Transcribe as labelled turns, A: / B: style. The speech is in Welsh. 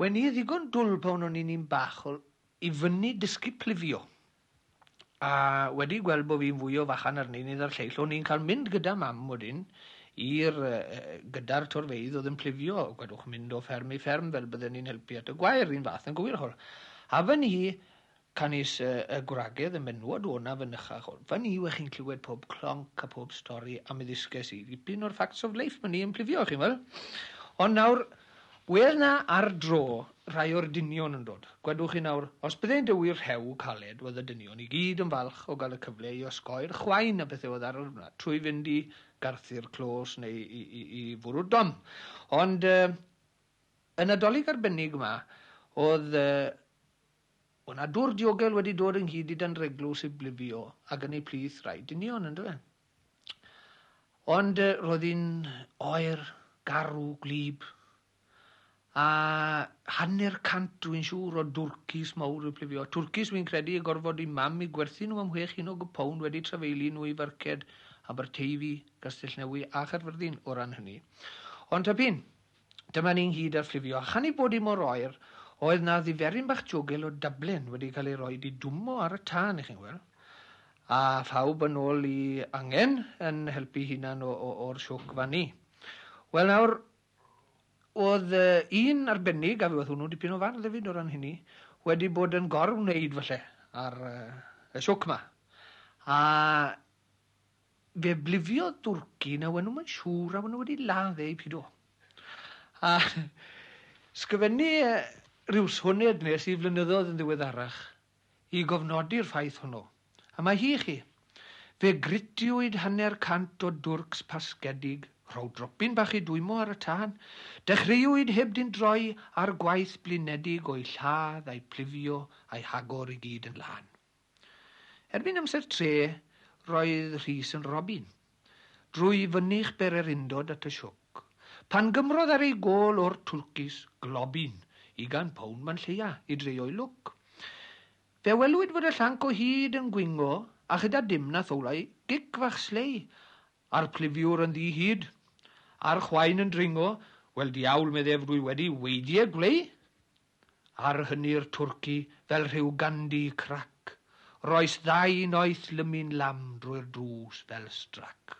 A: Wen i ddigon dwl pan o'n i'n un bach o i fyny dysgu plifio. A wedi gweld bo fi'n fwy o fachan ar neinydd a'r lleill, o'n i'n cael mynd gyda mam wedyn i'r gyda'r torfeydd oedd yn plifio, gwedwch mynd o fferm i fferm fel bydden ni'n helpu at y gwair, un fath yn gywir ch'wel. A fyn i Canys y gwragedd y menywod o'na fynychach o'r fan yw 'ych chi'n clywed pob clonc a phob stori a mi ddysges i ddipyn o'r facts of life myni yn plifio, chi'n weld. Ond nawr, wedd 'na ar dro rhai o'r dynion yn dod. Gwedwch chi nawr, os byddent y wir rhew caled wedd y dynion i gyd yn falch o gael y cyfle i osgoi'r chwain a pethau oedd ar yr wna trwy fynd i garthu'r clos neu i, i, i, i fwrw'r dom. Ond yy, y Nadolig arbennig yma, oedd yy, O na dwr diogel wedi dod ynghyd i danreglws i blifio ag yn ei plith rai dynion yn dyfe. Ond roedd hi'n oer, garw, gwlyb, a hanner cant dwi'n siŵr o dwrcis mawr i plifio. Twrcis fi'n credu y gorfod i mam i gwerthu nhw am chwe chinog y pound wedi trafeilu nhw i farced Aberteifi, Castellnewy a Chaerfyrddin o ran hynny. Ond ta pin, Dyma ni ynghyd ar fflifio, a chan ei bod hi mor oer, oedd 'na ddiferyn bach jogil o Dublin wedi cael ei roi i dwmmo ar y tân, i chi'n gweld. A phawb yn ôl i angen yn helpu hunan o, o, o'r siwc fan ni. Wel nawr, oedd uh, un arbennig, a fe oedd hwnnw dipyn o fardd hefyd o ran hynny, wedi bod yn gorwneud falle ar uh, y siwc ma. A Fe blifiodd dwrci na wen nhw mae'n siŵr a wen nhw wedi ladd eu pido. A sgyfennu rhyw soned nes i flynyddoedd yn ddiweddarach i gofnodi'r ffaith hwnnw. A mae hi i chi. Fe gritiwyd hanner cant o dwrcs pasgedig, rhow dropyn bach i dwymo ar y tân, dechreuwyd heb dyn droi ar gwaith blinedig o'u lladd a'u plifio a'u hagor i gyd yn lân. Erbyn amser tre, roedd Rhys yn robin. Drwy fynych bererindod at y sioc. Pan gymrodd ar ei gôl o'r twlcus, globin, ugain pound man lleia, i dreio'i lwc. Fe welwyd fod y llanc o hyd yn gwingo, a chyda dim na thowlai, gic fach slei, a'r clifiwr yn ddi hyd. A'r chwain yn dringo, wel diawl, meddef, rwy wedi weidie gwlei! Ar hynny'r twrci fel rhyw gandi crac, roes ddau noeth lymu'n lam drwy'r drws fel strac.